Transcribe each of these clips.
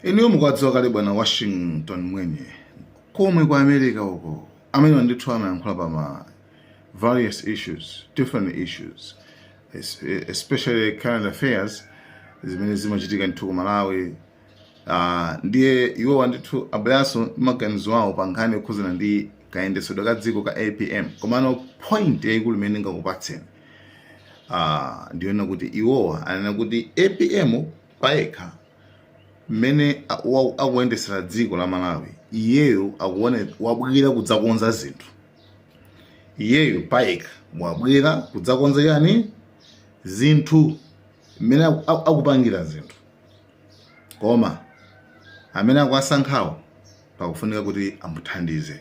inuyo mukuwadziwa kale bwana washington mwenye komwe kwa america uko amene ndithu amayankhula pa ma various issues different issues es- especially current affairs zimene zimachitika ndithu ku malawi Ah, ndiye iwowa ndithu abweranso ndi maganizo awo pa nkhani yokhuzana ndi kayendetsedwe ka dziko ka apm komano point yayikulu imene ndingakupatseni Ah, ndi yonena kuti iwowa anena kuti apm payekha mmene a- wa- akuyendetsera dziko la malawi iyeyo akuone wabwera kudzakonza zinthu iyeyo payekha wabwera kudzakonza chani zinthu mmene aku- aku- akupangira zinthu koma amene akuwasankhawo pakufunika kuti amuthandize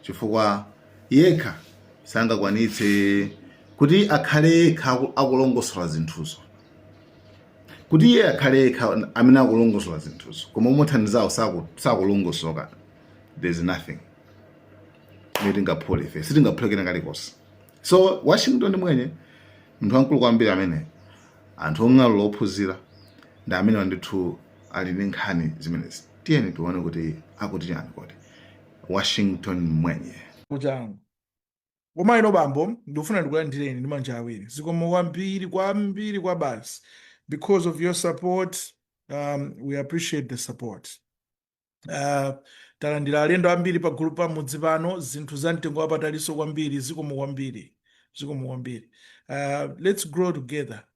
chifukwa yekha sangakwanitse kuti akhale yekha akulongosola zinthuzo kuti iye akhale yekha amene akulongosola zinthuzo koma omuthandizawo sakulongosoka there is nothing imene tingaphule ife sitingaphule kena kalikonse so washington mwenye munthu wamkulu kwambiri amene anthu ong'alula ophunzira ndi amenewa ndithu ali ndi nkhani zimenezi tiyeni tione kuti akuti chani kodi Washington Mwenye. Kuchangu komaino bambo ndikufuna ndikulandireni ndi manja awiri zikomo kwambiri kwambiri kwabasi because of your support um, we appreciate the support uh, talandira alendo ambiri pa gulu pa mudzi pano zinthu za mtengo wapatalinso kwambiri zikomo kwambiri zikomo kwambiri uh, let's grow together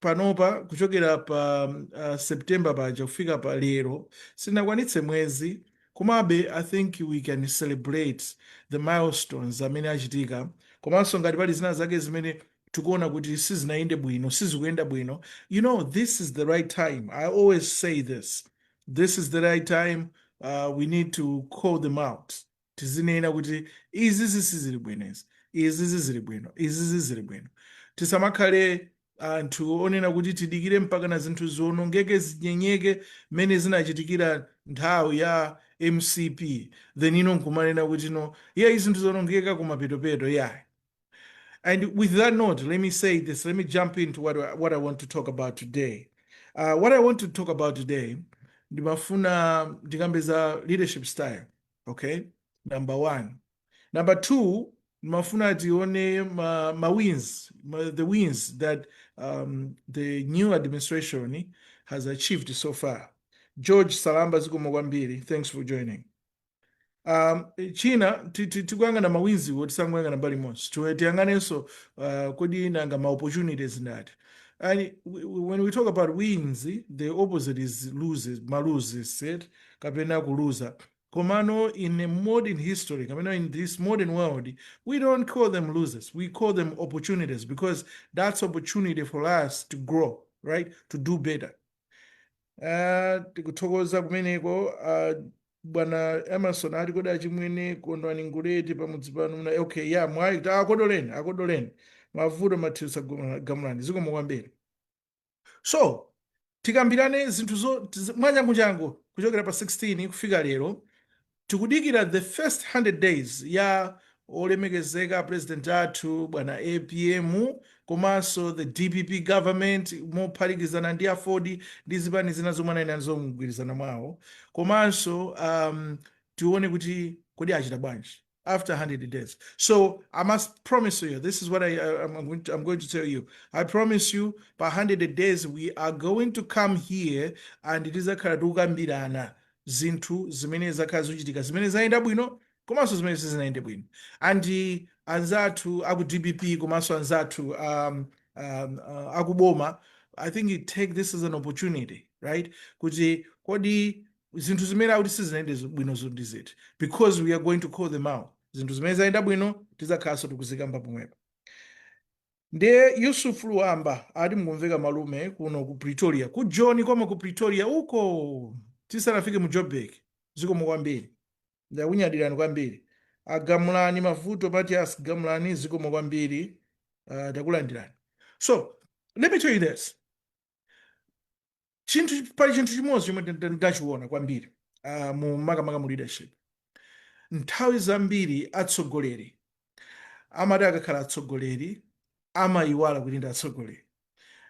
panopa kuchokera pa uh, September paja kufika pa lero sinakwanitse mwezi komabe i think we can celebrate the milestones amene achitika komanso ngati pali zina zake zimene tikuona kuti sizinayende bwino sizikuyenda bwino you know this is the right time i always say this this is the right time uh, we need to call them out Tizinena kuti, Izizi sizili bwino izi. Izizi zili bwino. Izizi zili bwino. Tisamakhale anthu onena kuti tidikire mpakana zinthu ziwonongeke, zinyenyeke mmene zinachitikira nthawi ya mcp then you know nkumanena kuti you know iyayi zinthu zaonongeka kumapetopeto iyayi. And with that note, let me say this, let me jump into what, what I want to talk about today. Uh, what I want to talk about today, ndimafuna ndikambe za leadership style. okay number one number two ndimafuna tione ma, ma wins ma, the wins that um, the new administration has achieved so far george salamba zikomo kwambiri thanks for joining um, china tikuyang'ana mawinziwo tisangoyang'ana mbali imodzi tiyang'anenso uh, kodi nanga ma opportunities ndati and when we talk about wins the opposite is loses maluzi side kapena kuluza komano in a modern history kapena in this modern world we don't call them losers we call them opportunities because that's opportunity for us to grow right to do better uh, tikuthokoza kumeneko uh, bwana emerson ali uko achimwene kondwani nguleti pamudzi pano muna okay ya mwayi akodoleni akodoleni mavuto mathias gamulani zikomo kwambiri So tikambirane zinthu zo tiz- mwachanguchangu kuchokera pa 16 kufika lero tikudikira the first 100 days ya olemekezeka president athu bwana apm komanso the dpp government mophatikizana ndi aford ndi zipani zina zomwe anayenda nazo mgwirizano mwawo komanso um, tione kuti kodi achita bwanji after 100 days. So I must promise you, this is what I, I, am going to, I'm going to tell you. I promise you, by 100 days, we are going to come here and tidzakhala tikukambirana zinthu zimene zakhala zikuchitika zimene zayenda bwino komanso zimene sizinayende bwino and anzathu aku dpp komanso anzathu um, um, uh, akuboma i think you take this as an opportunity right kuti kodi zinthu zimene akuti sizinayende zo- bwino zo ndi ziti because we are going to call them out zinthu zimene zayenda bwino tidzakhalanso tikuzikamba pomwepo ndiye yusuf luwamba ati mukumveka malume kuno ku pretoria ku joni koma ku pretoria uko tisanafike mu joburg zikomo kwambiri ndakunyadirani kwambiri agamulani mavuto mathias gamulani zikomo kwambiri uh, takulandirani so let me tell you this chinthu pali chinthu chimodzi chomwe nda- ndachiona kwambiri uh, mu makamaka mu leadership nthawi zambiri atsogoleri amati akakhala atsogoleri amayiwala kuti ndi atsogoleri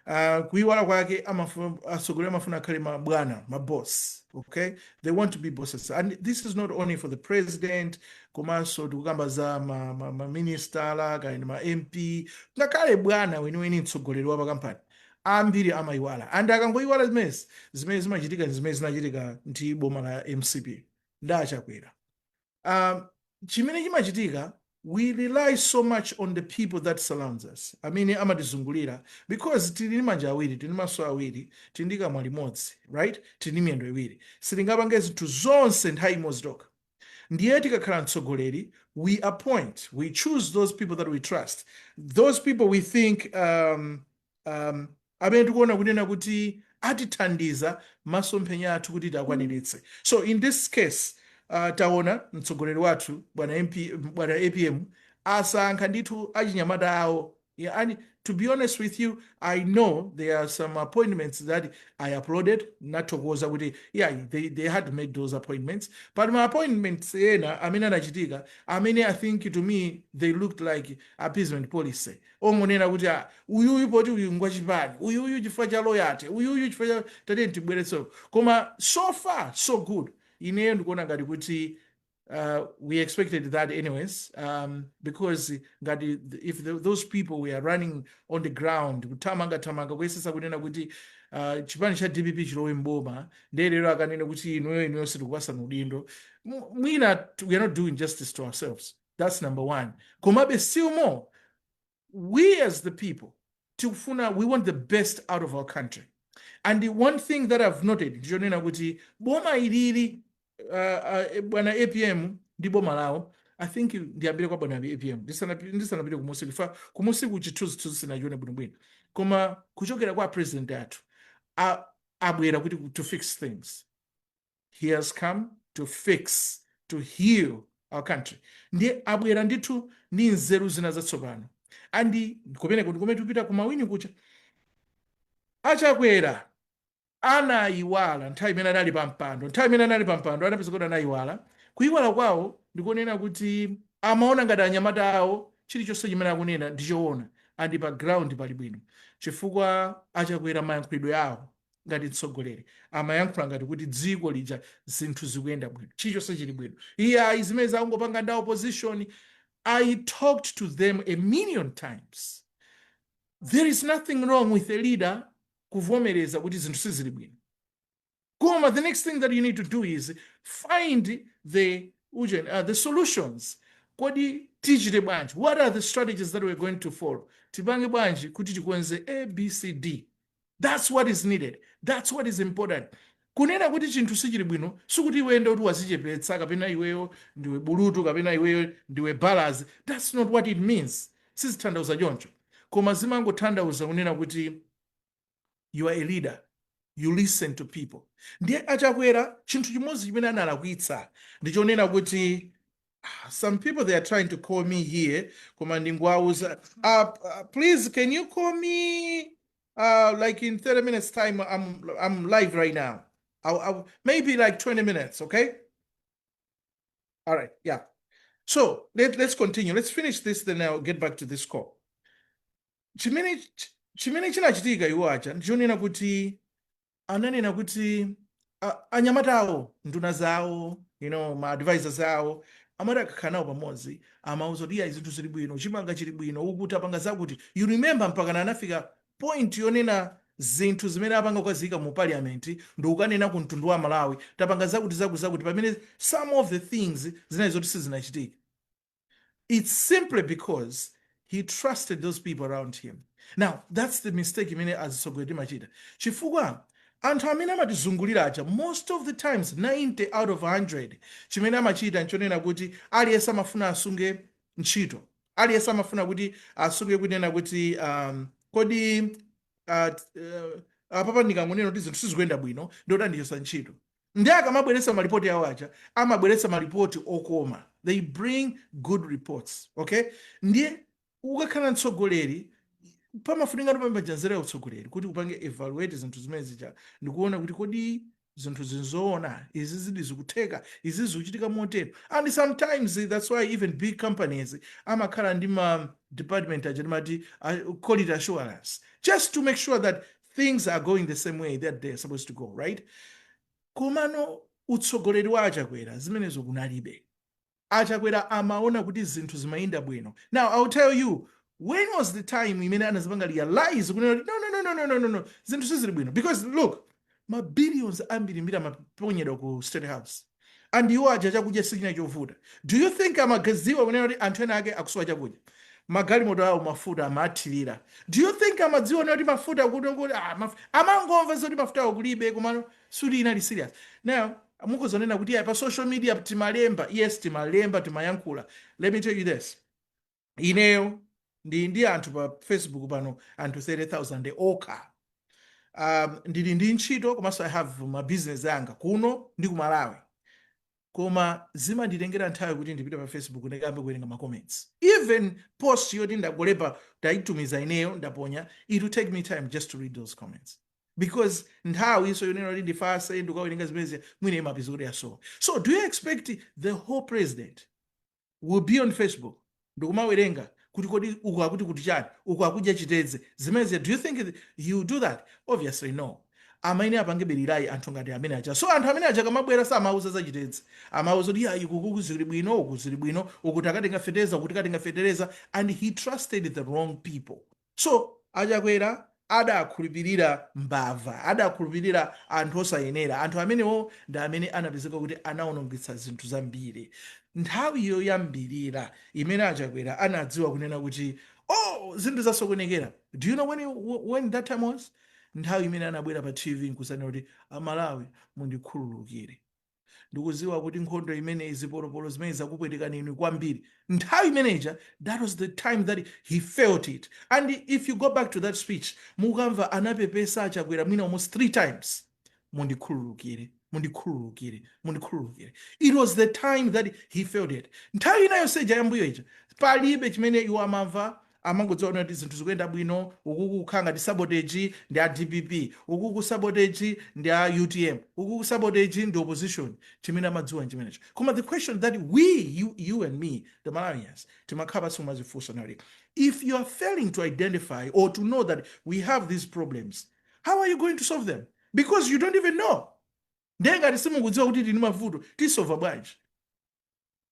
uh, kuyiwala kwake amafuna atsogoleri amafuna akhale mabwana maboss okay they want to be bosses and this is not only for the president komanso tikukamba za maministala ma, ma maministala, kaya ndi ma mp ngakhale bwana weniweni mtsogoleri wa pakampani ambiri amayiwala and akangoyiwala zimenezi zimene zimachitika ndi zimene zinachitika ndi boma la mcp ndi achakwera um, chimene chimachitika we rely so much on the people that surrounds us amene amatizungulira because tili ndi manja awiri tili ndi maso awiri tili ndi kamwa limodzi right tili ndi miyendo iwiri sitingapange zinthu zonse nthawi imodzi tokha ndiye tikakhala mtsogoleri we appoint we choose those people that we trust those people we think um, um, amene tikuona kunena kuti atithandiza masomphenya athu kuti tiakwaniritse so in this case uh, taona mtsogoleri wathu bwana apm asankha ndithu achinyamata awo Yeah, and to be honest with you, I know there are some appointments that I applauded, ndathokoza kuti, yeah, they, they had to make those appointments. But ma appointments ena, amene anachitika, amene I think to me, they looked like appeasement policy. Ongonena kuti, ah, uyu uyu poti uyu ngwachipani, uyu uyu chifukwa cha loyalty, uyu uyu chifukwa cha tateni tibweretso. Koma so far, so good. Ineyo ndikuona ngati kuti uh, we expected that anyways, um, because ngati if those people were running on the ground kuthamangathamanga kuyesesa kunena kuti uh, chipani cha dpp chilowe mboma ndiye lero akanena kuti inuyo inuyo sitikupasani udindo mwina we are not doing justice to ourselves that's number one komabe still more we as the people tikufuna we want the best out of our country and the one thing that i've noted ndichonena kuti boma iliri uh, uh, bwana apm ndi boma lawo i think ndiyambire kwa bwana apm Ndisanapi- ndisanapite kumusi chifukwa kumusiku chithunzithunzi sinachione bwinobwino koma kuchokera kwa apresident athu a- abwera kuti to fix things he has come to fix to heal our country ndiye abwera ndithu ndi nzeru zina zatsopano andi kumeneko ndi kumene akupita kumawinira kuti achakwera anayiwala nthawi imene anali pa mpando nthawi imene anali pa mpando anapeza kuti anayiwala kuyiwala kwawo ndi konena kuti amaona ngati anyamata awo chilichonse chimene akunena ndi choona andi pa ground pali bwino chifukwa achakwera mayankhulidwe awo ngati mtsogoleri amayankhula ngati kuti dziko lija zinthu zikuyenda bwino chilichonse chili bwino iye ayi zimenezo akungopanga ndi a opposition i talked to them a million times there is nothing wrong with a leader kuvomereza kuti zinthu sizili bwino koma the next thing that you need to do is find the ujeni, uh, the solutions kodi tichite bwanji what are the strategies that we're going to follow tipange bwanji kuti tikonze abcd that's what is needed that's what is important kunena kuti chinthu sichili bwino sikuti iweyo ndi kuti wadzichepetsa kapena iweyo ndiwe bulutu kapena iweyo ndiwe balazi that's not what it means sizithandauza choncho koma zimangothandauza kunena kuti you are a leader you listen to people ndiye achakwera chinthu chimodzi chimene analakwitsa ndichonena kuti some people they are trying to call me here koma ndingwauza uh, uh, please can you call me uh, like in 30 minutes time i'm i'm live right now I'll, I'll, maybe like 20 minutes okay all right yeah so let, let's continue let's finish this then i'll get back to this call chimene chimene chinachitika iwo aja ndichonena kuti ananena kuti a- anyamata awo nduna zawo you know ma advisors awo amati akakhala nawo pamodzi amauza kuti iyayi zinthu zili bwino chimanga chili bwino uku tapanga zakuti you remember mpakana anafika point yonena zinthu zimene apanga kukaziyika mu parliament ndi kukanena ku mtundu wa amalawi tapanga zakuti zakuti zakuti pamene some of the things zinali zoti sizinachitike it's simply because he trusted those people around him now that's the mistake imene azitsogoleri timachita chifukwa anthu amene amatizungulira aja most of the times 90 out of 100 chimene amachita nchonena kuti aliyense amafuna asunge ntchito aliyense amafuna kuti asunge kunena kuti um, kodi uh, uh, apapa ndikangonena kuti zinthu sizikuyenda bwino ndikuti andichotsa ntchito Nde akamabweretsa malipoti awo aja amabweretsa malipoti okoma they bring good reports okay ndiye ukakhala mtsogoleri pamafunika ndipo pompaja nzeru ya utsogoleri kuti upange evaluate zinthu zimene zija ndikuona kuti kodi zinthuzi nzoona izi izidi zikutheka izi zikuchitika motero and sometimes eh, that's why even big companies amakhala ndi ma department aja timati ah, quality assurance just to make sure that things are going the same way that they're supposed to go right komano utsogoleri wa achakwera zimenezo kunalibe achakwera amaona kuti zinthu zimayenda bwino now i will tell you when was the time imene anazipanga realize kunena kuti no, no, no, no, no, no, no. zinthu sizili bwino because look mabillions ambirimbiri amaponyedwa ku state house and iwo aja chakudya sichinali chovuta do you think amakadziwa kunena kuti anthu ena ake akusowa chakudya magalimoto awo mafuta amathilira do you think amadziwa kunena kuti mafuta kuno kuti ah, maf amangomva zoti mafutawo kulibe komano suti inali serious now mukudzanena kuti "Ah, pa social media timalemba yes timalemba timayankhula let me tell you this ineyo ndili ndi anthu pa facebook pano anthu 30000 okha um, ndili ndi ntchito komanso i have ma business anga kuno ndi ku malawi koma zimanditengera nthawi kuti ndipite pa facebook ndikayambe kuwerenga ma comments even post yoti ndangolemba ndayitumiza ineyo ndaponya it will take me time just to read those comments because nthawi ijanso yonena kuti ndifatse ndikukawerenga zimezi mwina imapezeka kuti yasowa so do you expect the whole president will be on facebook ndikumawerenga kuti kodi uku akuti kuti chani uku akudya chitedze zimenezi do you think he will do that obviously no amayenera apange be rely anthu ngati amene aja so anthu amene aja akamabwera samauza za chitedze amauza kuti yayi kuku zili bwino uku zili bwino uku tikatenga fetereza uku tikatenga fetereza and he trusted the wrong people So a Chakwera adakhulupilira mbava, adakhulupilira anthu osayenera. Anthu amenewo ndi amene anapezeka kuti anaonongetsa zinthu zambiri. Nthawi yoyambilira imene a Chakwera anadziwa kunena kuti oh zinthu zasokonekera do you know when, when that time was? Nthawi imene anabwera pa TV nkuzanena kuti a Malawi mundikhululukire. ndikuziwa kuti nkhondo imeneyi zipolopolo zimene zakupwetekani inu kwambiri nthawi imeneja that was the time that he felt it and if you go back to that speech mukamva anapepesa achakwera mwina almost three times mundikhululukire mundikhululukire mundikhululukire it was the time that he felt it nthawi ina yonse ija yambuyo ija palibe chimene iwo amamva amangodziwa kunena kuti zinthu zikuyenda bwino, ukuku kukhala ngati sabotage ndi a dpp, ukuku sabotage ndi a utm, ukuku sabotage ndi opposition. Chimene amadziwa nchimenecho. Koma the question that we, you, you and me, the Malawians, timakhala pansi kumazifunsa kunena kuti if you are failing to identify or to know that we have these problems, how are you going to solve them? Because you don't even know. Ndiye ngati simukudziwa kuti tili ndi mavuto, tisova bwanji?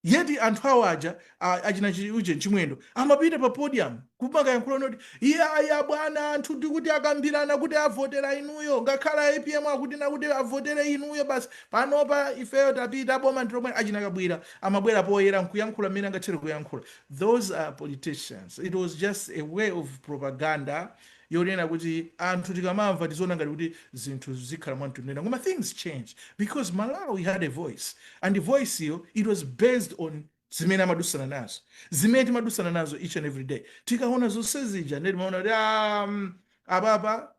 yeti anthu awo aja a- achina chi- uje chimwendo amapita pa podium kumakayankhula noti iyayi abwana anthu ndikuti akambirana kuti avotera inuyo ngakhale apm akuti nakuti avotere inuyo basi panopa ifeyo tapita boma ndilomwe achina kabwira amabwera poyera nkuyankhula mmene angathere kuyankhula those are politicians it was just a way of propaganda yonena kuti anthu tikamamva tiziona ngati kuti zinthu zikhala mwamtendere koma things changed because malawi had a voice and voice yo it was based on zimene amadusana nazo zimene timadusana nazo each and every day tikaona zonse zija ndiye timaona kuti ah, mm, apapa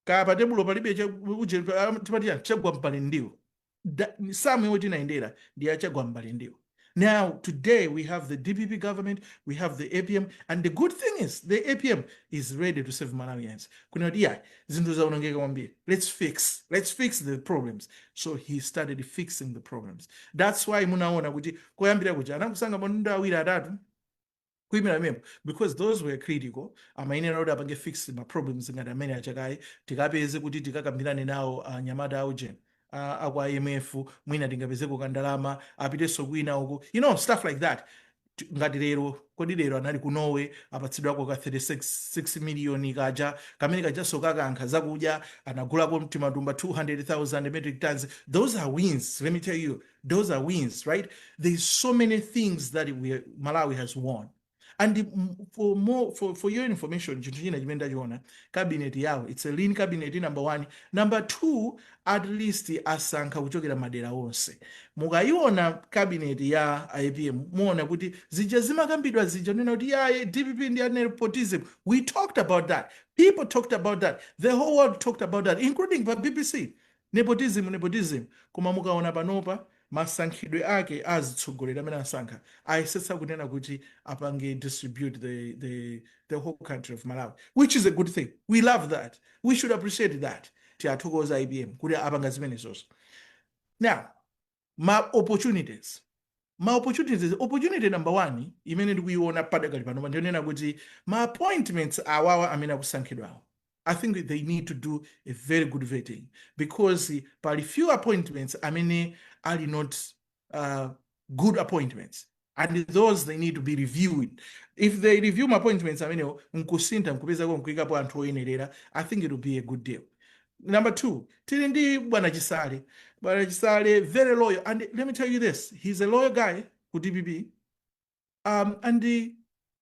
kaya pa tebulo palibe cha- uje- ah, timati yani, chagwa mpale ndiwo da, samu yomwe tinayendera ndi ya chagwa mbali ndiwo Now, today we have the DPP government, we have the APM, and the good thing is the APM is ready to serve Malawians. Let's fix, let's fix the problems. So he started fixing the problems. That's why munaona kuti koyambira kuja anakusanga manunda awiri atatu kuimira pamenepo because those were critical amayenera kuti apange fix ma problems ngati amene achoke kaye tikapeze kuti tikakambirane nawo anyamata a ujeni a- a kwa imf mwina tingapezeko kandalama apitenso kwina uko you know stuff like that T- ngati lero kodi lero anali ku norway apatsidwako ka 36 miliyoni kaja kamene kajanso kakankha zakudya anagulako mtimatumba 200000 metric tons those are wins let me tell you those are wins right there's so many things that we, malawi has won and mm, for, for your information chinthu china chimene ndachiona cabinet yawo it's a lean cabinet number one number two at least asankha kuchokera madera onse mukayiona cabinet ya apm muona kuti zija zimakambidwa zija nena kuti yaye dpp ndi a nepotism we talked about that people talked about that the whole world talked about that including pa bbc Nepotism, nepotism, koma mukaona panopa masankhidwe ake a azitsogoleri amene asankha ayesetsa kunena kuti apange distribute the the the whole country of Malawi which is a good thing we love that we should appreciate that tiwathokoze APM kuti apanga zimenezozo now ma opportunities ma opportunities opportunity number one imene ndikuiona padakali panopa ndiyonena kuti ma appointments awawa amene akusankhidwawa i think they need to do a very good vetting because pali few appointments amene ali not uh, good appointments and those they need to be reviewed if they review ma appointments amenewo nkusintha nkupezako nkuikapo anthu oyenerera i think it will be a good deal number two tili ndi bwana chisale bwana chisale very loyal and let me tell you this he's a loyal guy ku dpp um, and the,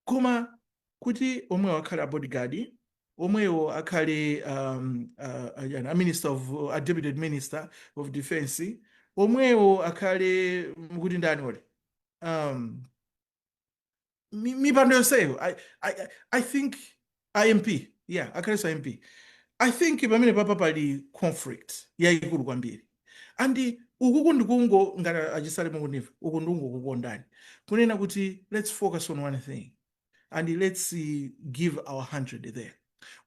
koma kuti omwewo akhale a bodyguard omwewo akhale um, uh, uh, yani, a minister of uh, a deputy minister of defense omwewo akhale mm, kuti ndani ole um, mi- mipando yonseyo I, I, I- I think a MP yeah akhalenso a MP I think pamene papa pali conflict yayikulu kwambiri and ukuku ndikungo ngati achisale mukundimva uku ndikungokukondani kunena kuti let's focus on one thing and let's uh, give our 100 there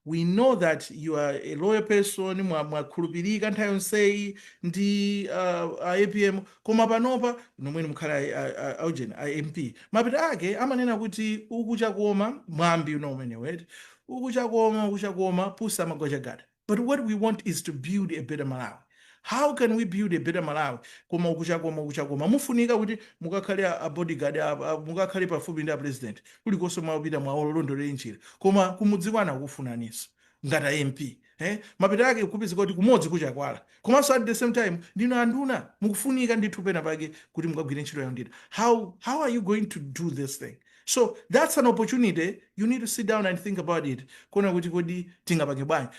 we know that you are a loyal person mwa- mwakhulupirika nthawi yonseyi ndi uh, a apm Koma panopa nomwenu mukhale a, a, a, a ujeni a MP mapeto ake amanena kuti ichi chakoma mwambi uno umenewu eti ichi chakoma ichi chakoma pusi amagwa chagada but what we want is to build a better Malawi how can we build a better Malawi koma uku chakoma uku chakoma mukufunika kuti mukakhale a, a bodyguard a, a, mukakhale pafupi ndi a president kulikonse mwapita muwalondolere njira koma kumudzi kwanu akukufunaninso ngati a MP Eh, mapeto ake kupezeka kuti kumodzi kuchepekedwa. Komanso at the same time ndinu anduna mukufunika ndithu pena pake kuti mukagwire ntchito ya unduna. How, how are you going to do this thing? So that's an opportunity you need to sit down and think about it. Kuona kuti kodi tingapange bwanji.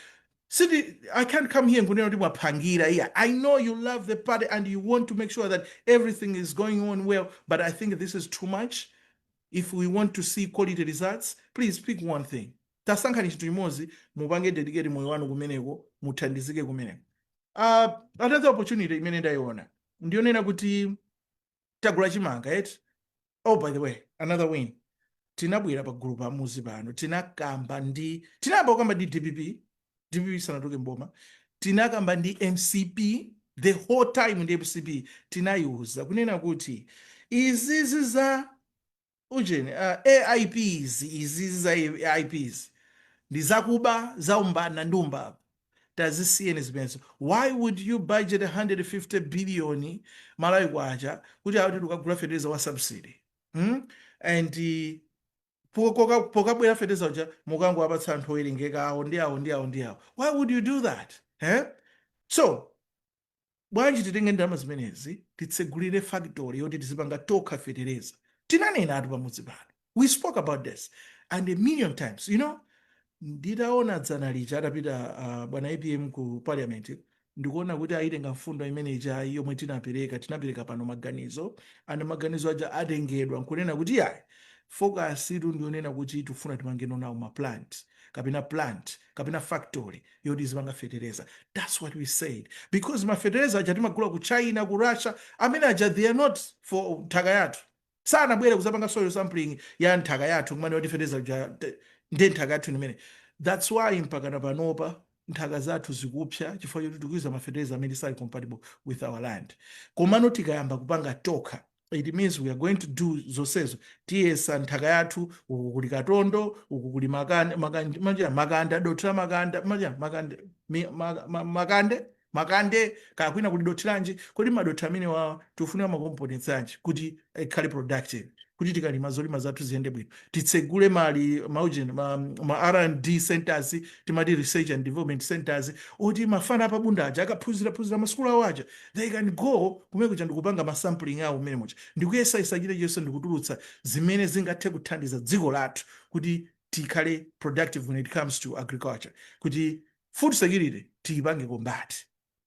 Siti, I can't come here nkunena kuti mwapangiranji iyayi. I know you love the party and you want to make sure that everything is going on well, but I think this is too much. If we want to see quality results, please pick one thing. tasankhani chinthu chimodzi mupange dedicate moyo wanu kumeneko muthandize kumeneko uh, another opportunity imene ndayiona ndiyonena kuti tagula chimanga eti oh by the way another win tinabwera pa gulu pamuzi pano tinakamba ndi tinayamba kukamba ndi dpp dpp isanatenge boma tinakamba ndi mcp the whole time ndi mcp tinayiuza kunena kuti izizi za Ujeni, ma AIP izi, izizi za AIP izi ndi zakuba, zaumbanda ndi umbava. Tazisiyeni zimenezo. Why would you budget 150 billion Malawi kwacha kuti akuti tikagula fetereza wa subsidy? Hmm? And pokabwera fetereza uja mukangowapatsa anthu owerengeka awo ndi awo ndi awo ndi awo. Why would you do that? Eh? So, Bwanji titenge ndalama zimenezi titsegulire factory yoti tizipanga tokha fetereza. Tinanenatu pamudzi pano. We spoke about this and a million times. You know, nditaona dzana lija atapita uh, bwana APM ku parliament ndikuona kuti ayitenga mfundo imene ija yomwe tinapereka tinapereka pano maganizo and maganizo aja atengedwa nkunena kuti yayi focus yathu ndi yonena kuti tifuna timangeno nawo ma plant kapena plant kapena factory yoti izipanga fetereza that's what we said because mafetereza aja timagula ku china ku russia amene aja they are not for nthaka yathu sanabwere kuzapanga soil sampling ya nthaka yathu kumene kuti fetereza uja te- ndi nthaka yathu imene that's why mpakana panopa nthaka zathu zikupsa chifukwa choti tikuiza mafetereza amene sali compatible with our land komano tikayamba kupanga tokha it means we are going to do zonsezo tiyesa nthaka yathu uku kuli katondo uku kuli makande kaya kwina kuli dothi lanji kodi madothi amenewa tifuna makomponents anji kuti ikhale productive kuti tikalima zolima zathu ziyende bwino titsegule mali maujeni ma, ma r&d centers timati research and development centers oti mafana a pa Bunda aja akaphunziraphunzira masukulu awo aja They can go kumene kuja ndikupanga ma sampling awo mmene muja ndikuyesayesa chilichonse ndikutulutsa zimene zingathe kuthandiza dziko lathu kuti tikhale productive when it comes to agriculture kuti food security tiyipange combat.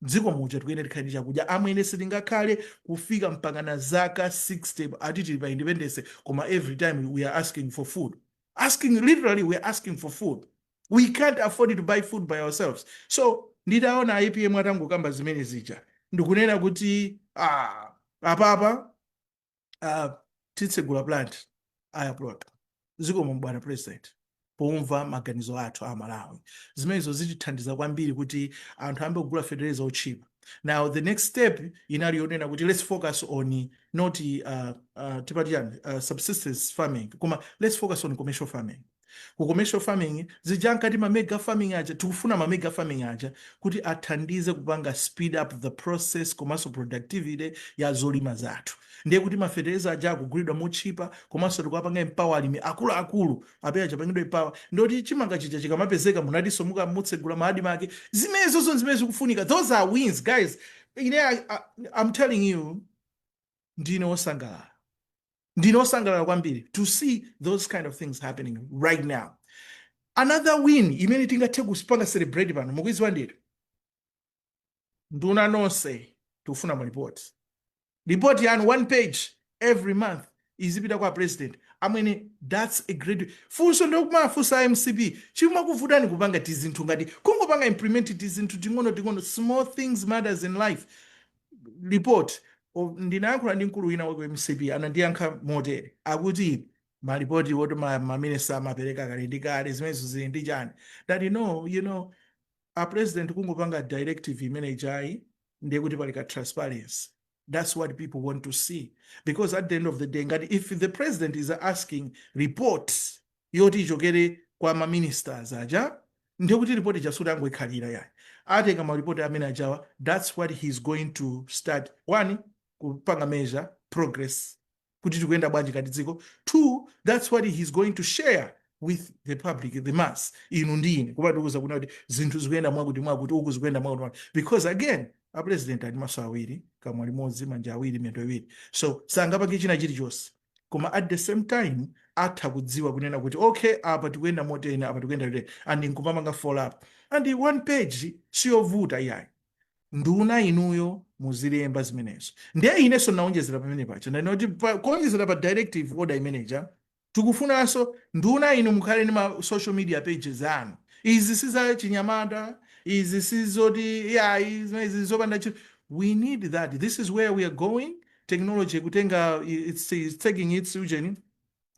Mdziko muja tikuyenera tikhale ndi chakudya amwene, sitingakhale kufika mpakana zaka 60 ati tili pa independence koma every time we are asking for food. Asking literally we are asking for food. we can't afford to buy food by ourselves so nditaona apm atangokamba zimene zija ndikunena kuti ah, apapa uh, titsegula plant I applaud zikomo bwana president pomva maganizo athu Amalawi zimenezo zitithandiza kwambiri kuti anthu ayambe kugula fetereza otchipa now the next step inali yonena kuti let's focus on not uh, uh, tipati chani uh, subsistence farming koma let's focus on commercial farming Ku commercial farming zija ankati ma mega farming aja, tikufuna ma mega farming aja kuti athandize kupanga speed up the process komanso productivity ya zolima zathu. Ndiye kuti ma fetereza aja akugulidwa motchipa komanso tikuwapanga empower alimi akuluakulu ape aja apangidwe empower. Ndiye kuti chimanga chija chikamapezeka munatinso mutsegula ma admarc. Zimenezozo ndi zimene zikufunika. Those are wins guys. Ine I, I, I'm telling you ndine osangalala ndine osangalala kwambiri to see those kind of things happening right now another win imene tingathe kupanga celebrate pano mukuiziwa ndithu nduna nonse tikufuna malipoti lipoti yanu one page every month izipita kwa a president i mean that's a great funso ndikumafunsa a mcp chimakuvutani kupanga tizinthu ngati kungopanga implement tizinthu ting'ono ting'ono small things matters in life report ndinayankhula ndi mkulu wina wa ku mcp anandiyankha motere akuti malipoti woti maminista amapereka kale ndi kale zimenezo zili ndi chani ndati no you know a president kungopanga directive imene ijayi ndiye kuti pali ka transparency that's what people want to see because at the end of the day ngati if the president is asking reports yoti ichokere kwa ma ministers aja ndiye kuti report ija sikuti angoikhalira iyayi atenga ma report amene ajawa that's what he is going to start one kupanga measure progress kuti tikuyenda bwanji ngati dziko two that's what he is going to share with the public the mass inu ndi ine kuti atiuze kunena kuti zinthu zikuyenda mwakuti mwakuti uku zikuyenda mwakuti mwakuti because again a president ali maso awiri kamwa limodzi manja awiri miyendo iwiri so sangapange china chilichonse koma at the same time atha kudziwa kunena kuti okay apa tikuyenda moteni apa tikuyenda moteni and nkumapanga follow up and one page siyovuta iyayi nduna inuyo muzilemba zimenezo ndiye inenso ndinawonjezera pamene paja ndinati kuti pa- kuwonjezera pa directive order imeneja tikufunanso nduna inu mukhale ndi ma social media pages anu izi si za chinyamata izi si zoti iyayi zimenezi zopanda ntchito we need that this is where we are going technology ikutenga it's, it's taking its ujeni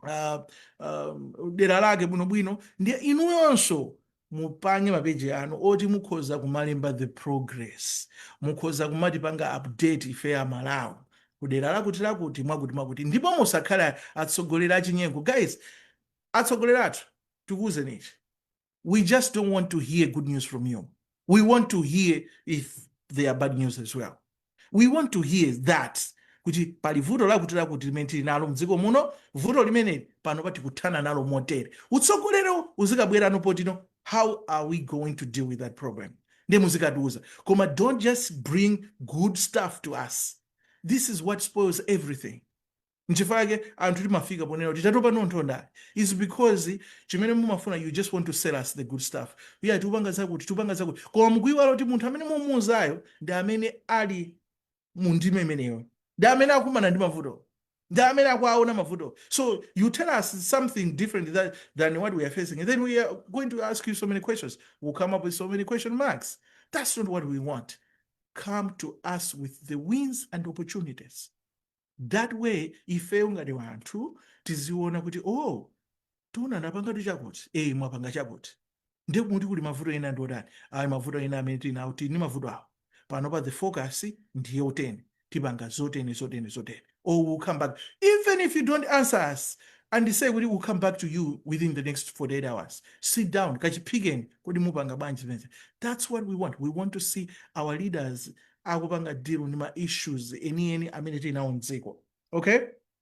uh, um, dera lake bwinobwino ndiye inuyonso mupange mapeji anu oti mukhoza kumalemba the progress mukhoza kumatipanga update ife amalawi kudera lakuti lakuti mwakuti mwakuti ndipo musakhala atsogoleri achinyengo guys atsogoleri athu tikuwuzeni ichi we just don't want to hear good news from you. We want to hear if they are bad news as well. We want to hear that kuti pali vuto lakuti lakuti limene tili nalo mdziko muno vuto limeneli pano patikuthana nalo motere utsogolero uzikabwerano potino how are we going to deal with that problem nde muzikatiuza koma don't just bring good stuff to us this is what spoils everything nchifukwa chake anthu timafika ponena kuti tatopa nazo ndale is because chimene mumafuna you just want to sell us the good stuff iya tiupanga zakuti tiupanga zakuti koma mukuiwala kuti munthu amene mumuuzayo ndi amene ali mu ndima imeneyo ndi amene akumana ndi mavuto ndi amene akuaona mavuto so you tell us something different than, than what we are facing and then we are going to ask you so many questions we'll come up with so many question marks that's not what we want come to us with the wins and opportunities that way ifeyo ngati wanthu tiziona kuti o oh, taona anapangatu chakuti e mwapanga chakuti ndiye kuti kuli mavuto ena ndi otani ayi mavuto ena amene tili nawo tili ndi mavuto awo pano pa the focus ndiye oteni tipanga zoteni zoteni zoteni or we'll come back even if you don't answer us and say kuti we'll come back to you within the next 48 hours sit down kachiphikeni kodi mupanga bwanji zimenezi that's what we want we want to see our leaders akupanga deal ndi ma issues enieni amene tili nawo mdziko okay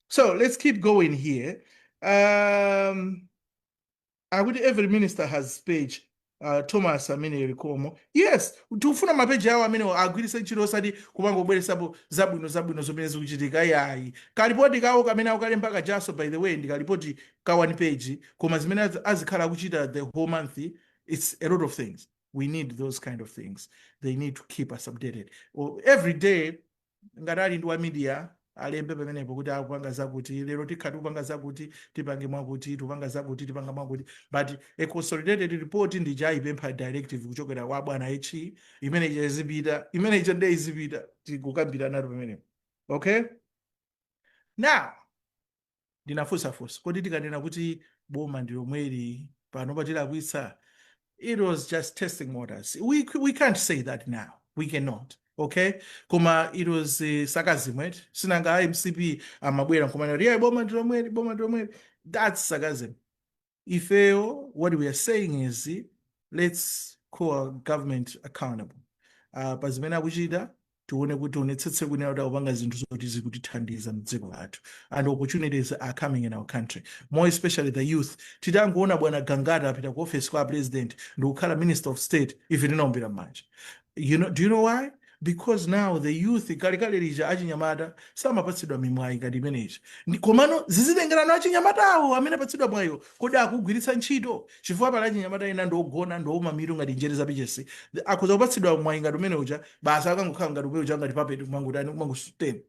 so let's keep going here um, akuti every minister has page uh, thomas amene zikomo yes tikufuna mapeji awo amene agwiritse ntchito osati kumangobweretsapo zabwino zabwino zomene zikuchitika yayi kalipoti kawo kamene akukalemba kajaso by the way ndi kalipoti ka one page koma zimene az- azikhala akuchita the whole month it's a lot of things we need those kind of things they need to keep us updated well, every day ngati ali ndi wa media alembe pamenepo kuti akupanga zakuti lero tikhala tikupanga zakuti tipange mwakuti tikupanga zakuti tipanga mwakuti but a consolidated report ndiye aipempha directive kuchokera kwa bwana HE imene ija izipita imene ija nde izipita tikukambirana pamenepo okay now ndinafunsa funso kodi tikanena kuti boma ndi lomweli pano patilakwitsa it was just testing waters we, we can't say that now we cannot okay koma it was uh, sarcasm right sinanga a mcp amabwera nkumanena kuti yeah, boma ndi lomweli boma ndi lomweli that's sarcasm ifeyo what we are saying is let's call our government accountable uh, pa zimene akuchita tione kuti aonetsetse kunena kuti akupanga zinthu zoti zikutithandiza mdziko lathu and opportunities are coming in our country more especially the youth titangoona bwana gangata apita ku office kwa a president ndikukhala minister of state ife tinaombera mmanja do you know why because now the youth kalekale lija achinyamata samapatsidwa mimwayi ngati imeneyi komano zizitengerano achinyamatawo amene apatsidwa mwayiwo kodi akugwiritsa ntchito chifukwa pali achinyamata ena ndiogona ndiowuma mitu ngati njere za pichesi akhoza kupatsidwa mwayi ngati umene uja basi akangokhala ngati umene uja ngati papeti kumangotani kumangosuteni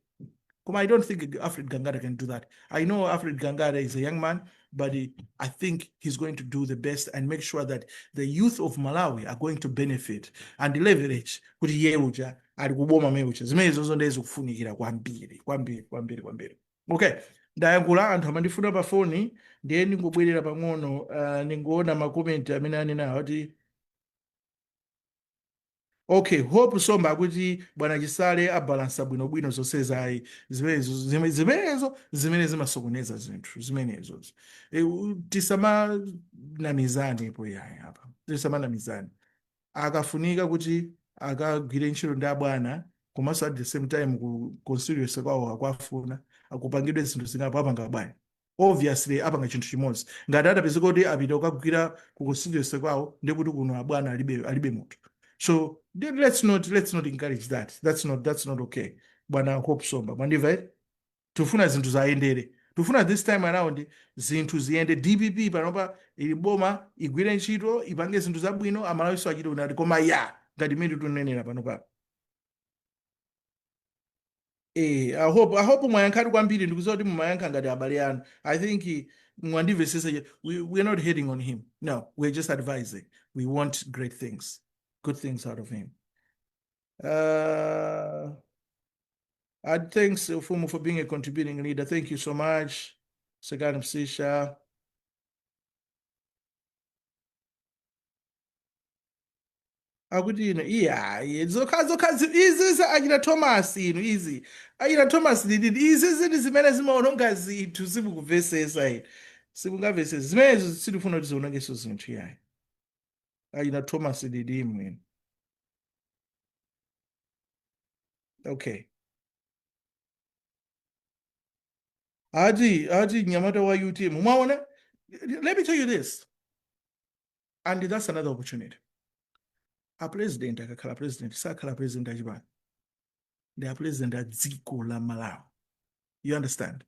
Koma I don't think Alfred Gangata can do that. I know Alfred Gangata is a young man, but he, I think he's going to do the best and make sure that the youth of Malawi are going to benefit and leverage kuti iye uja ali kuboma amene uja zimenezonzo ndiye zikufunikira kwambiri kwambiri kwambiri kwambiri okay ndayankhula anthu amandifuna pa foni ndiye ndingobwerera pang'ono uh, ndingoona makomenti amene anenawo kuti Ok hope somba akuti bwana chisale abalansa bwinobwino zonsezi ayi zimenezo zime- zimenezo zimene zimasokoneza zinthu zimenezo e, u- tisamanamizanepo yayi apa tisamanamizane akafunika kuti akagwire ntchito ndi abwana komanso at the same time ku constituency kwawo akuwafuna kupangidwe zinthu zingapo apanga bwanji obviously apanga chinthu chimodzi ngati atapezeka kuti apita kukagwira ku constituency kwawo ndiye kuti kuno abwana alibe alibe munthu so then let's not let's not encourage that that's not that's not okay bwana hope somba mwandiva eh? tifuna zinthu zayendere tifuna this time around zinthu ziyende dpp panopa ili boma igwire ntchito ipange zinthu zabwino amalawiso achite unati koma ya ngati mmene tunenera panopa Eh, I hope, I hope mwayankhatu kwambiri ndikuziwa kuti mumayankha ngati abale anu. I think eh, mwandimvesesa je- we, we're not hating on him. No, we're just advising. We want great things, good things out of him. Uh, I thanks Ufumu for being a contributing leader. Thank you so much. Sekani Msisha. akuti ino iyayi zokha zokha zi- izi za achita thomas inu izi achita thomas lididi izizi ndi zimene zimaononga zinthu simukuvesesa inu simungamvesesa zimenezo sitifuna kuti zionongeso zinthu yayi achita thomas lididi mwini okay ati ati nyamata wa utm mwaona let me tell you this and that's another opportunity apresident akakhala president sakhala president achipani ndi apresident a dziko la malawi you understand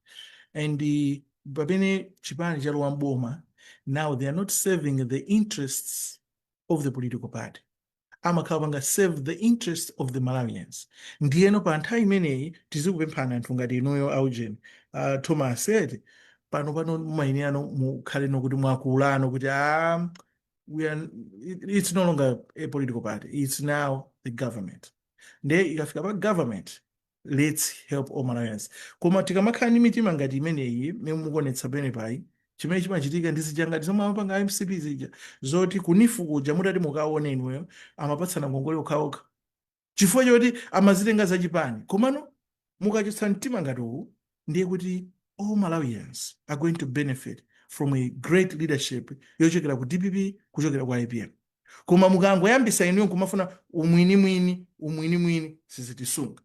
and uh, pamene chipani chalowa mboma now they are not serving the interests of the political party amakhala akupanga serve the interest of the malawians ndiyeno pa nthawi imeneyi tizikupemphani anthu ngati inuyo aujeni uh, thomas eti pano pano mumayenerano mukhale nokuti mwakulano kuti ah, we are, it- it's no longer a political party it's now the government nde ikafika pa government let's help all malawians koma tikamakhala ndi mitima ngati imeneyi mmene mukuonetsa penepayi chimene chimachitika ndi zija ngati zomwe amapanga a mcp zija zoti ku neef kuja mutati mukaone inuyo amapatsana ngongole okhaokha chifukwa choti amazitenga zachipani komano mukachotsa mtima ngati uwu ndiye kuti all malawians are going to benefit from a great leadership yochokera ku dpp kuchokera ku apm koma mukangoyambisa inuyo kumafuna umwinimwini umwinimwini sizitisunga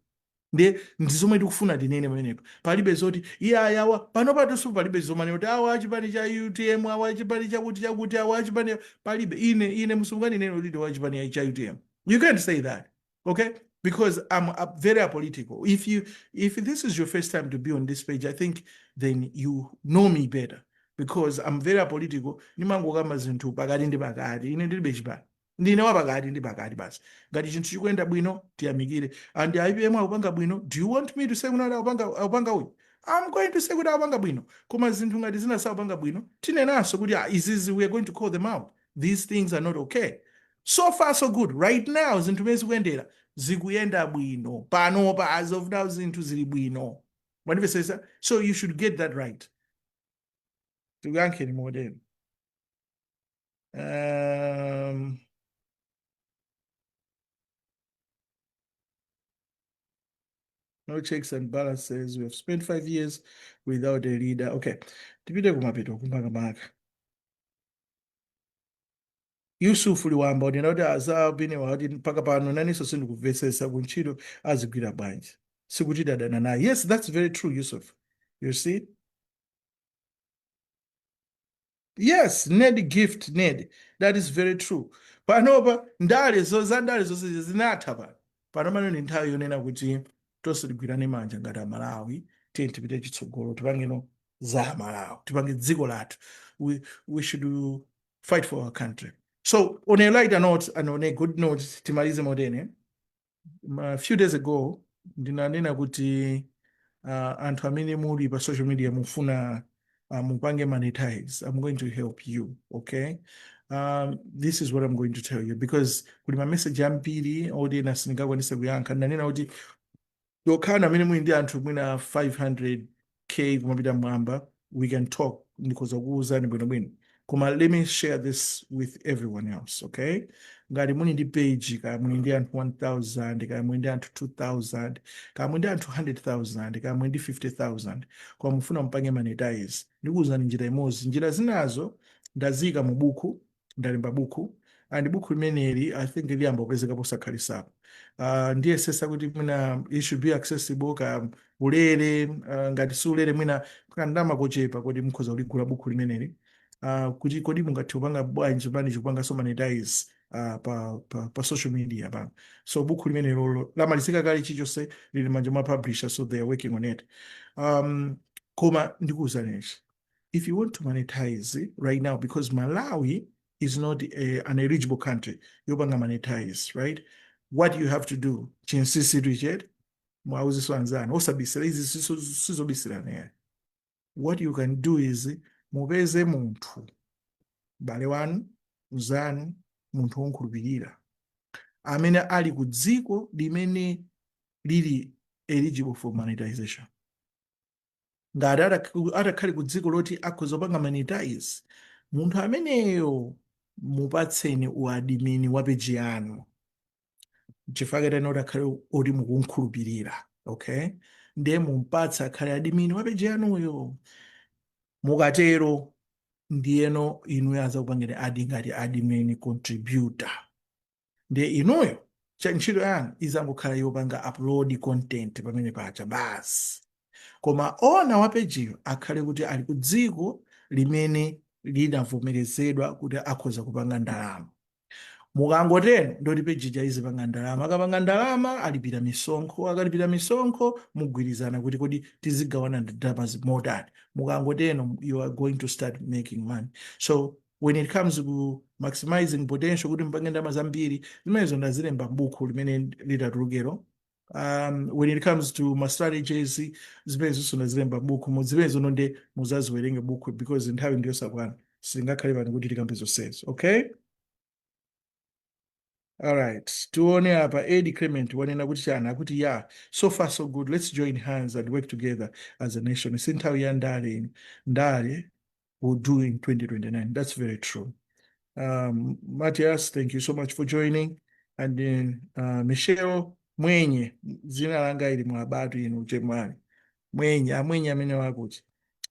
ndiye ndi zomwe tikufuna tinene pamenepo palibe zoti iye ayawa pano patonso palibe zomanena kuti awa achipani cha utm awa achipani chakuti chakuti awa achipani palibe ine ine simunganene kuti ndi wachipani cha utm you can't say that okay? Because I'm uh, very apolitical. If you if this is your first time to be on this page, I think then you know me better because I'm very apolitical. Ndimangokamba zinthu pakati ndi pakati. Ine ndilibe chipani. Ndine wa pakati ndi pakati basi. Ngati chinthu chikuyenda bwino tiyamikire. And APM akupanga bwino. Do you want me to say kuti akupanga akupanga uyu? I'm going to say kuti akupanga bwino. Koma zinthu ngati zina sakupanga bwino. Tinenanso kuti ah, izizi we are going to call them out. these things are not okay so far so good right now zinthu mene zikuyendera zikuyenda bwino panopa as of now zinthu zili bwino mwandimvetsetsa so you should get that right tikuyankheni modelo um, no checks and balances we have spent five years without a leader okay tipite kumapeto kumakamaka Yusuf Liwamba akunena kuti azabiniwa ati mpaka pano nanenso sindikumvetsetsa kuntchito azigwira bwanji sikuti dadana naye yes that's very true Yusuf you see yes ned gift ned that is very true panopa ndale zo za ndale zonse izi zinatha pano pano tsopano ndi nthawi yonena kuti tonse tigwirane manja ngati amalawi tiyeni tipite chitsogolo tipangeno za Malawi tipange dziko lathu we, we should fight for our country so on a lighter note and on a good note timalize motene a few days ago ndinanena kuti uh, anthu amene muli pa social media mufuna uh, mupange monetize i'm going to help you okay um, this is what i'm going to tell you because kuli mameseji ambiri oti ena sindingakwanise kuyankha ndinanena kuti Okhawo amene muli ndi anthu mwina 500K kumapita mmwamba, we can talk, ndikhoza kukuuzani bwinobwino. Koma let me share this with everyone else, okay? Ngati muli ndi page, kaya muli ndi anthu 1,000, kaya muli ndi anthu 2,000, kaya muli ndi anthu 100,000, kaya muli ndi 50,000, koma mufuna mupange monetize, ndikuuzani njira imodzi. Njira zinazo ndaziika mu buku, ndalemba buku and buku limeneli i think liyamba kupezeka posakhalitsapa uh, ndiyesetsa kuti mwina it should be accessible ka ulere uh, ngati si ulere mwina kandama kochepa koti mukhoza kuligula buku limeneli uh, kuti kodi mungathe kupanga bwanji bwanji kupanganso monetize uh, pa, pa, pa social media pano so buku limenelolo lamalizika kale chilichonse lili m'manja mwa publisher so they are working on it um, koma ndikuuzani nji if you want to monetize right now because malawi is not a, an eligible country yopanga monetize right what you have to do chinsisi richard muwauzeso anzanu osabisira izi siso- sizobisirana what you can do is mupeze munthu m'bale wanu mzanu munthu womkhulupirira amene ali ku dziko limene lili eligible for monetization ngati atak- atakhale ku dziko loti akhoza kupanga monetize munthu ameneyo mupatseni uadimini wa peji yanu chifukwa katani kuti akhale oti mukumkhulupirira okay ndiye mumpatse akhale adimini wa peji yanuyo mukatero ndiyeno inuyo azakupangeni add ngati admin contributor ndiye inuyo cha ntchito yanu izangokhala yopanga upload content pamene paja basi koma owner wa pejiyo akhale kuti ali ku dziko limene linavomerezedwa kuti akhoza kupanga ndalama mukangotero ndoti pejija izipanga ndalama akapanga ndalama alipira misonkho akalipira misonkho mugwirizana kuti kodi tizigawana ndalamazi motani mukangotero you are going to start making money so when it comes ku maximizing potential kuti mpange ndalama zambiri zimenezo ndazilemba m'buku limene litatulukero um, when it comes to ma strategies zimenezonso ndazilemba m'bukumu zimenezono nde muzaziwerenge buku because nthawi ndiyosakwana sitingakhale pano kuti tikambe zonsezo okay All right. Tuone apa Ed Clement wanena kuti chani akuti ya so far so good let's join hands and work together as a nation. Si nthawi ya ndale ino. Ndale will do in 2029. That's very true. Um, Matias, thank you so much for joining. And then uh, Michelle Mwenye, zina langa ili mwabatu inu chemwani. Mwenye, amwenye amene wakuti.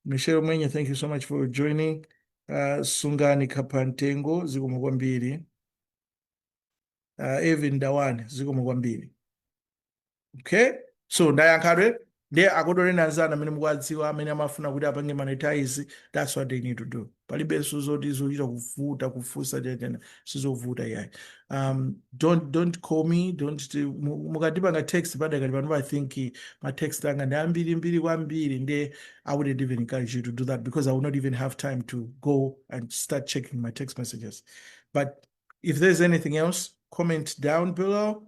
Michelle Mwenye, thank you so much for joining. Uh, sungani kaphamtengo zikomo kwambiri uh, Evin Dawani zikomo kwambiri okay so ndayankhatu ndiye akodoleni anzanu amene mukuwadziwa amene amafuna kuti apange monetize that's what they need to do palibenso zoti zochita kuvuta kufunsa tena sizovuta iyayi um, don't, don't call me don't mukandipanga text padakali pano i think ma text anga ndi ambiri mbiri kwambiri nde i wouldn't even encourage you to do that because i would not even have time to go and start checking my text messages but if there's anything else comment down below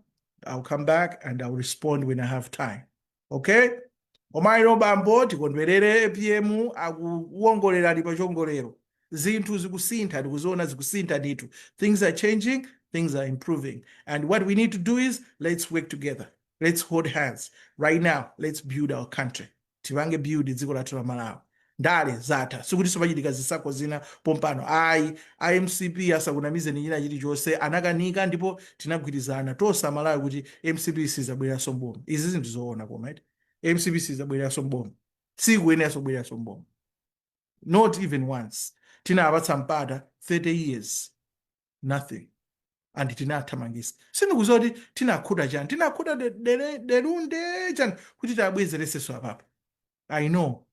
i'll come back and i'll respond when i have time okay koma lero bambo tikondwerere apm akuwongolera ali pa chiwongolero zinthu zikusintha tikuziona zikusintha ndithu things are changing things are improving and what we need to do is let's work together let's hold hands right now let's build our country tipange build dziko lathu la malawi ndale zatha sikutiso pachitika zisankho zina pompano ayi a mcp asakunamizeni china chilichonse anakanika ndipo tinagwirizana tose amalawi kuti mcp sizabweleranso mboma izizi ndi zoona koma eti mcp sizabweleranso mboma sikuyeneranso kubweleranso mboma not even once tinapatsa mpata 30 years nothing and tinathamangisa sindikuziwa kuti tinakhuta chani tinakhuta de- dele- delunde chani kuti tabwezereseso apapo i know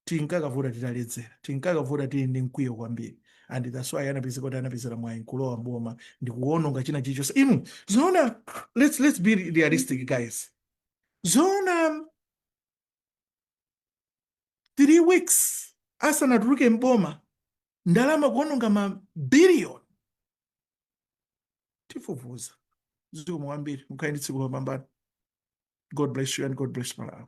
tinkakavota titaledzera tinkakavota tili ndi mkwiyo kwambiri and that's why anapezeka kuti anapezera mwayi nkulowa mboma ndikuononga china chilichonse inu zoona let's, let's be realistic guys zoona 3 weeks asanatuluke m'boma ndalama kuononga ma billion tifufuza zikomo kwambiri mukhale ndi tsiku lopambana god bless you and god bless malawi